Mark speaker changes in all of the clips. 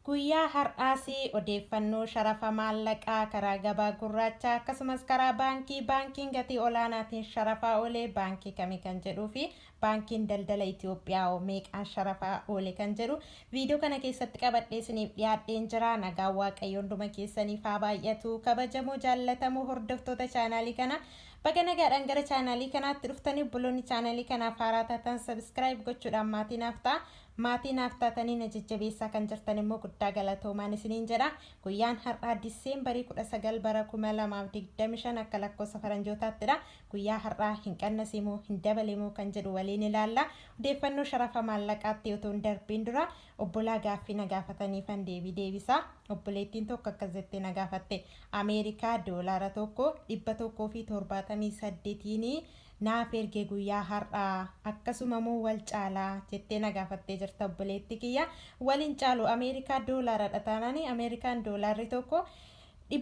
Speaker 1: Guyyaa har'aas odeeffannoo sharafa maallaqaa karaa gabaa gurraachaa akkasumas karaa baankii baankiin gatii olaanaatiin sharafaa oole baankii kami kan jedhuu fi baankiin daldala Itiyoophiyaa hoo meeqaan sharafaa oole kan jedhu viidiyoo kana keessatti qabadhee isiniif dhiyaadheen jira. Nagaan Waaqayyoo hunduma keessaniif haa baay'atu. Kabajamoo jaallatamoo hordoftoota chaanaalii kanaa baga nagaadhaan gara chaanaalii kanaatti dhuftanii obboloonni chaanaalii kanaaf haaraa taatan sabiskiraayib gochuudhaan maatii naaf ta'a. Maatii naaf taatanii na jajjabeessaa kan jirtan immoo guddaa galatoomaan isiniin jedha. Guyyaan har'aa Diseembarii 19 bara 2025 akka lakkoofsa faranjootaattidha. Guyyaa har'aa hin qannasee moo hin dabale moo kan jedhu waliin ilaalla. Odeeffannoo sharafa maallaqaatti otoo hin darbiin dura obbolaa gaaffii na gaafataniifan deebii deebisa. Obboleettiin tokko akkas jettee na gaafatte. Ameerikaa doolaara tokko 178n naaf erge guyyaa har'aa akkasuma moo wal caala jettee na gaafattee jirta obboleetti kiyya wal hin caalu ameerikaa doolaaradha taanaan ameerikaan doolaarri tokko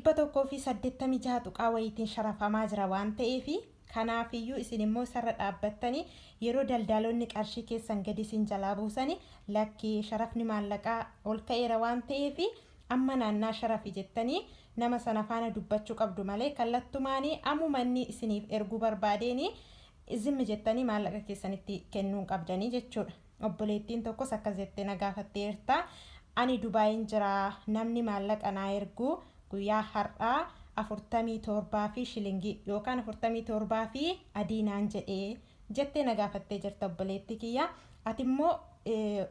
Speaker 1: 186 tuqaa wayiitiin sharafamaa jira waan ta'eef kanaafiyyuu isin immoo isarra dhaabbattanii yeroo daldaalonni qarshii keessan gadi isin jalaa buusani lakki sharafni maallaqaa ol ka'eera waan ta'eef amma naannaa sharafi jettanii Nama sana faana dubbachu qabdu malee kallattumaani amuma inni isiniif erguu barbaadeeni zimmi jettanii maallaqa keessan itti kennuu hin qabdanii jechuudha. Obboleettiin tokkos akkas jettee na gaafatteerta ani Dubaayiin jira namni maallaqa naa ergu guyyaa har'aa 47 fi shilingii yookaan 47 fi adii naan jedhe. jettee na gaafattee jirta obboleettii kiyya. Ati immoo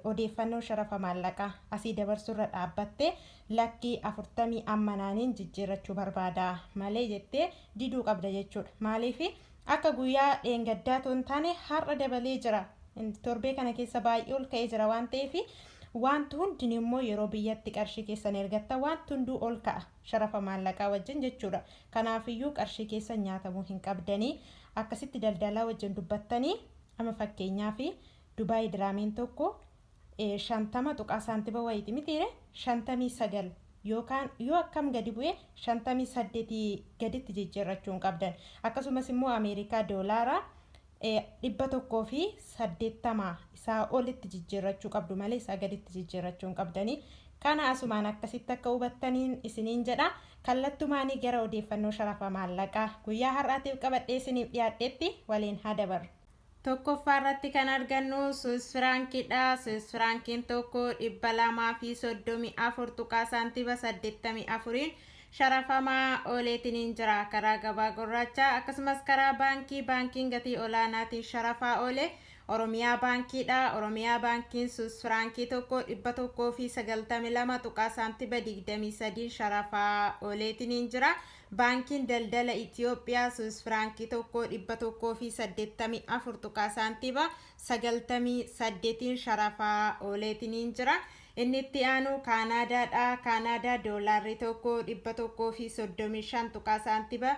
Speaker 1: odeeffannoo sharafa maallaqaa asii dabarsurra dhaabbattee lakkii 40 amma naaniin jijjiirrachuu barbaada malee jettee diduu qabda jechuudha. Maaliif akka guyyaa dheengaddaa toon taane har'a dabalee jira. Torbee kana keessa baay'ee ol ka'ee jira waan ta'eef wanti hundinuu immoo yeroo biyyatti qarshii keessan ergatta wanti hunduu ol ka'a. Sharafa maallaqaa wajjin jechuudha. Kanaafiyyuu qarshii keessan nyaatamuu hin qabdani. Akkasitti daldalaa wajjin dubbattanii amma fakkeenyaaf Dubai Dirhamiin tokko 50 tuqaa saantiba wayiiti mitiire 59 yookaan yoo akkam gadi bu'e 58 gaditti jijjiirrachuu hin qabdan. Akkasumas immoo Ameerikaa Doolaara 180 isaa olitti jijjiirrachuu qabdu malee isaa gaditti jijjiirrachuu hin qabdani. Kana asumaan akkasitti akka hubattaniin isiniin jedha. Kallattumaanii gara odeeffannoo sharafa maallaqaa guyyaa har'aatiif qabadhee isiniif dhiyaadheetti waliin haa dabarru. Tokkoffaa irratti kan argannu Swiss Franc dha. Swiss Franc'n tokko 234 tuqaa saantiba 84n sharafamaa ooleetiniin jira. Karaa gabaa gurraachaa akkasumas karaa baankii baankiin gatii olaanaatiin sharafaa oole Oromiyaa Baankii dha. Oromiyaa Baankiin Swiss Firaankii tokko 192 tuqaa saantiba 23n sharafaa ooleetiniin jira. Baankiin Daldala Itiyoophiyaa Swiss Firaankii tokko 184 tuqaa saantiba 98n sharafaa ooleetiniin jira. Inni itti aanu Kaanaadaa dha, Kaanaadaa doolaarri tokko 135 tuqaa saantiba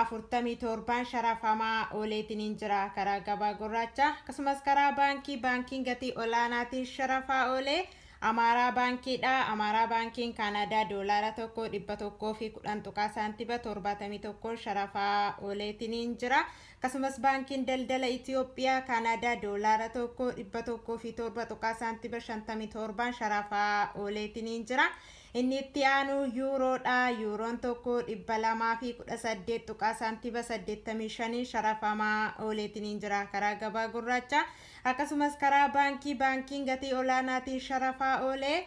Speaker 1: 47n sharafamaa ooleetiniin jira karaa gabaa gurraachaa akkasumas karaa baankii baankiin gatii olaanaatiin sharafaa oolee Amaaraa baankii dha, Amaaraa baankiin Kaanaadaa doolaara tokko 110 tuqaa saantiba 71n sharafaa ooleetiniin jira. Akkasumas Baankiin Daldala Itiyoophiyaa Kaanaadaa Doolaara tokko 107 tuqaa saantima 57n sharafaa ooleetiniin jira. Inni itti aanu Yuuroo dha. Yuuroon tokko 218 tuqaa saantima 85n sharafamaa ooleetiniin jira karaa gabaa gurraachaa. Akkasumas karaa baankii baankiin gatii olaanaatiin sharafaa oolee.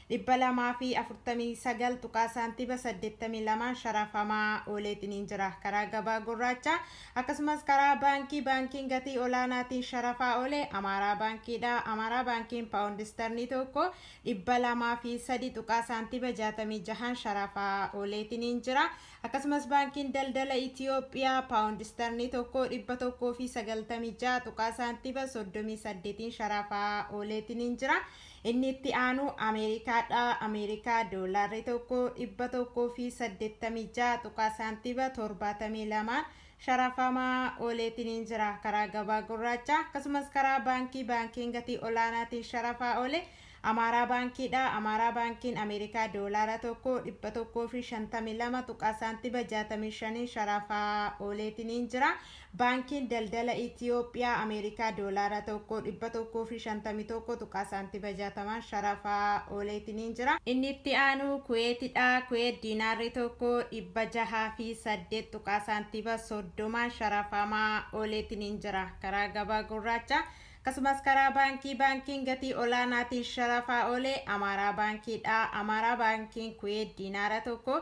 Speaker 1: 249 tuqaa saantiba 82 sharafamaa ooleetiniin jira. Karaa gabaa gurraachaa akkasumas karaa baankii baankiin gatii olaanaatiin sharafaa oole Amaaraa baankiidha. Amaaraa baankiin paawundi istarnii tokko 203 tuqaa saantiba 66n sharafaa ooleetiniin jira. Akkasumas baankiin daldala Itiyoophiyaa paawundi istarnii tokko 196 tuqaa saantiba 38n sharafaa ooleetiniin jira. Inni itti aanu Ameerikaa dha, Ameerikaa doolaarri tokko 186 tuqaa saantiba 72 sharafamaa ooleetiniin jira. Karaa gabaa gurraachaa akkasumas karaa baankii baankiin gatii olaanaatiin sharafaa oole Amaaraa baankii dha, Amaaraa baankiin Ameerikaa doolaara tokko 152 tuqaa saantiba 65n sharafaa ooleetiniin jira. Baankiin Daldala Itiyoophiyaa Ameerikaa Doolaara 1 151 tuqaa saantiba 60n sharafaa ooleetiniin jira. Inni itti aanu Kuweeti dha. Kuweet Diinaarri 1 608 tuqaa saantiba 30n sharafamaa ooleetiniin jira. Karaa gabaa gurraachaa akkasumas karaa baankii baankiin gatii olaanaatiin sharafaa oole Amaaraa Baankii dha. Amaaraa Baankiin Kuweet Diinaara 1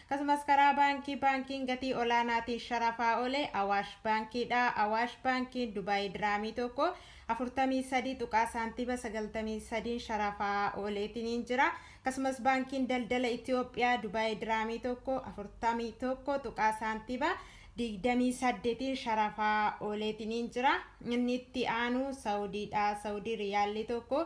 Speaker 1: Akkasumas karaa baankii baankiin gatii olaanaatiin sharafaa oole Awaash Baankii dha. Awaash Baankiin Dubaayii Diraamii tokko 43 tuqaa saantiima 93n sharafaa ooleetiniin jira. Akkasumas Baankiin Daldala Itiyoophiyaa Dubaayii Diraamii tokko 41 tuqaa saantiima 28n sharafaa ooleetiniin jira. Inni itti aanu Sawudii dha. Sawudii Riyaallii tokko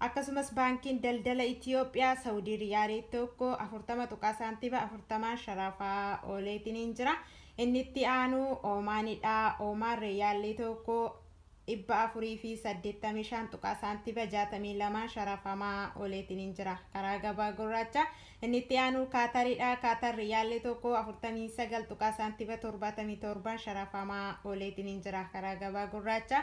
Speaker 1: Akkasumas Baankiin Daldala Itiyoophiyaa Sawudii Riyaali tokko 40 tuqaa saantiba 40n sharafaa ooleetiniin jira. Inni itti aanu Oomaani dha. Oomaan Riyaalli tokko 485 tuqaa saantiba 62n sharafamaa ooleetiniin jira. Karaa gabaa gurraacha inni itti aanu Kaatari dha. Kaatar Riyaalli tokko 49 tuqaa saantiba 77n sharafamaa ooleetiniin jira. Karaa gabaa gurraacha.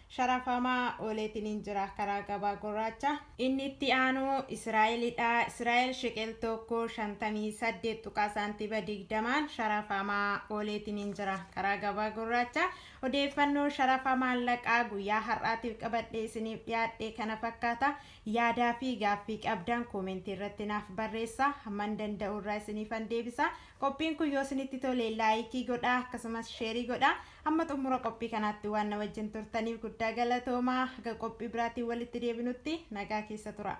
Speaker 1: sharafamaa ooleetiniin jira karaa gabaa gurraacha. Inni itti aanu Israa'eli dha. Israa'el sheqel tokko 58 tuqaa saantiba 20n sharafamaa ooleetiniin jira karaa gabaa gurraacha. Odeeffannoo sharafa maallaqaa guyyaa har'aatiif qabadhee isiniif dhiyaadhe kana fakkaata. Yaadaa fi gaaffii qabdan koomentii irratti naaf barreessa. Hamman danda'u irraa isiniifan deebisa. Qophiin kun yoo isinitti tole laayikii godhaa akkasumas sheerii godhaa. Hamma xummura qophii kanaatti waan na wajjin turtaniif guddaa galatoomaa. Haga qophii biraatiin walitti deebinutti nagaa keessa turaa.